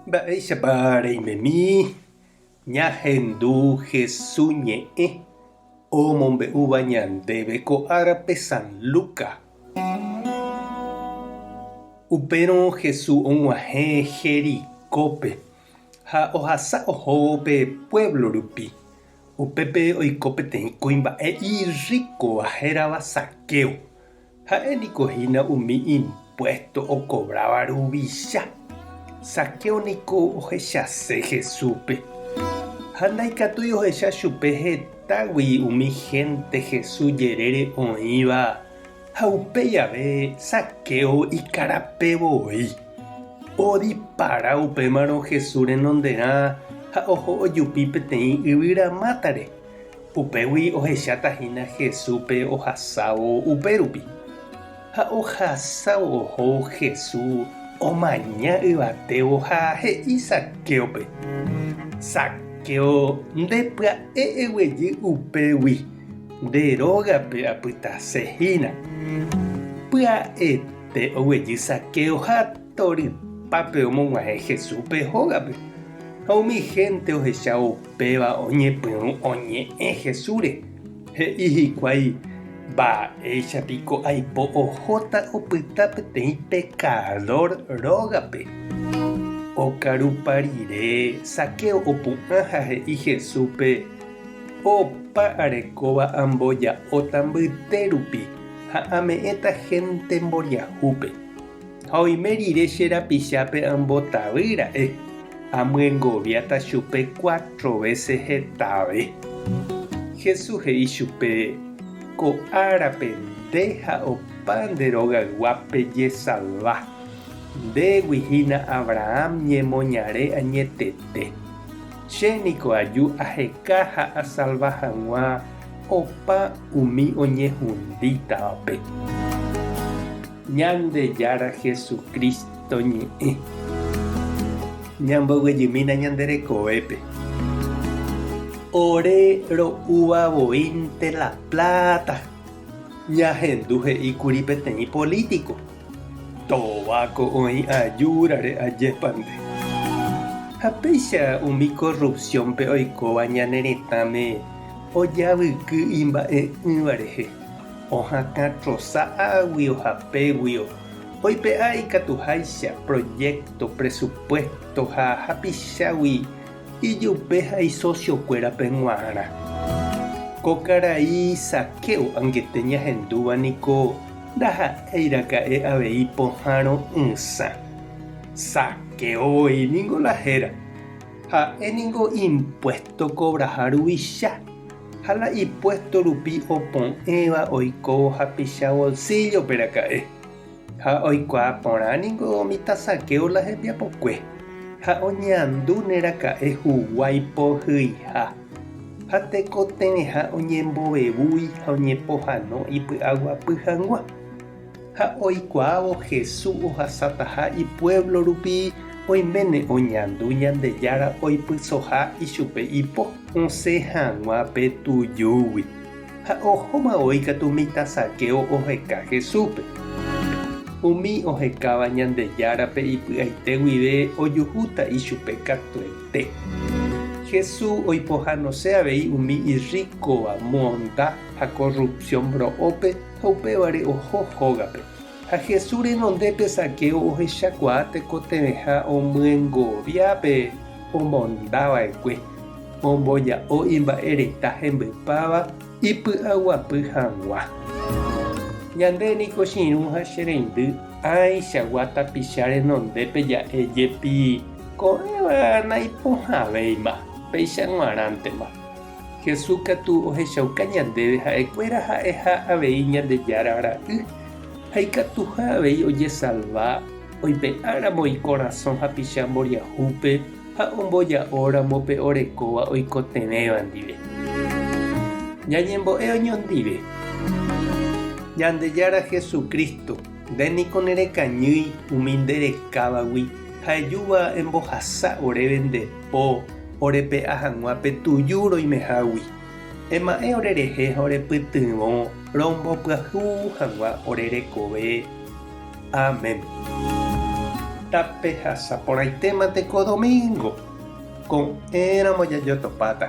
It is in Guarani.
Mba'éichapa reimemi ñahendu Hesu ñe'ẽ omombe'úva ñandéve ko árape San Luka? Upérõ Hesu og̃uahẽ Jericópe ha ohasa oho pe puévlo rupi. Upépe oiko peteĩ kuimba'e irríkova hérava Zaqueo. Ha'e niko hína umi impuésto okovráva ruvicha. Zaqueo niko ohechase Jesúspe. Ha ndaikatúi ohecha chupe hetágui umi hénte Jesús jerére oĩva, ha upéi jave Zaqueo ikarape voi. Odipara upémarõ Jesús renonderã ha oho ojupi peteĩ yvyra mátare. Upégui ohecháta hína Jesúspe ohasávo upérupi. Ha ohasávo oho Jesús omaña yvatévo ha he'i Zaquéope, Zaqueo, nde pya'e eguejy upégui, nde rógape apytase hína. Pya'ete oguejy Zaqueo ha Torypápe omog̃uahẽ Jesús pe hógape, ha umi hénte ohecha upéva oñepyrũ oñe'ẽ Jesúsre, he'i hikuái, Mba'éicha piko aipo ohóta opyta peteĩ pekadór rógape! Okarupa rire, Zaqueo opu'ã ha he'i Jesúspe, Opa arekóva amboja'óta mbytérupi ha ame'ẽta hénte mboriahúpe. Ha oime rire che rapichápe ambotavy ra'e, amyengoviáta chupe cuatro vése hetave. Jesús he'i chupe, Ko árape nde ha opa nde rogaygua pejesalva. Ndégui hína Abraham ñemoñare añetete. Che niko aju aheka ha asalva hag̃ua opa umi oñehundítavape. Ñandejára Jesucristo ñe'ẽ. Ñamboyvejymína ñande rekovépe. Ore ro'úva voínte la pláta. Ñahendu he'íkuri peteĩ polítiko, Tóbako oĩ ajúrare ajépa nde. Ha péicha umi korrupsiónpe oikóva ñane retãme ojavyky imba'e'ỹva rehe. Ohakã trosa águi ohapeguio, oipe'a ikatuháicha, proyecto, presupuesto ha hapichágui ijupe ha isociokuérape g̃uarã. Ko karai Zaqueo angete ñahendúva niko ndaha'éiraka'e avei pohãrõ ysã. Zaqueo voi niko la héra. Ha'e niko impuesto cobraha ruvicha. Ha la ipuésto rupi opu'ẽva oiko hapicha bolsíllope raka'e. Ha oikuaa porã ningo umi tasakéo la hembiapokue, ha oñeandúne raka'e huguái pohyiha. Ha tekotevẽha oñembovevúi ha oñepohano ipy'aguapy hag̃ua. Ha oikuaávo Hesu ohasataha ipuévlo rupi oiméne oñandu Ñandejára oipysoha ichupe ipo. Osẽ hag̃ua pe tujúgui, ha ohóma voi katu mitã Zaqueo oheka Hesúpe. Umi ohekáva Ñandejárape ipy'aite guive ojuhúta ichupe katuete. Hesu oipohanose avei umi irríkova monda ha korrupsión ro'ópe Ha upévare oho hógape. Ha Jesús renondépe Zaqueo ohechakuaa tekotevẽha omyengovia pe omondava'ekue, omboja'o imba'ereta hembypáva ipy'aguapy hag̃ua. Ñande niko chirũ ha che reindy áichagua tapicha renondépe ja'e jepi, ko'ẽva naipohãvéima, péicha g̃uarãntema. Jesús katu ohechauka ñandéve ha'ekuéra ha'eha avei Ñandejára Ra'y ha ikatuha avei ojesalva oipe'áramo ikorasõ hapicha mboriahúpe ha omboja'óramo pe orekóva oikotevẽva ndive. Ñañembo'e oñondive. Ñandejára Jesucristo, nde niko nerekañýi umi nderekávagui ha ejúva embohasa oréve nde. po orepe'a hag̃ua pe tuju roimehágui. Ema'ẽ orerehe ha orepytyvõ rombopyahu hag̃ua ore rekove. Amén. Tapehasa porãitéma teko domingo, ko'ẽramo jajotopáta.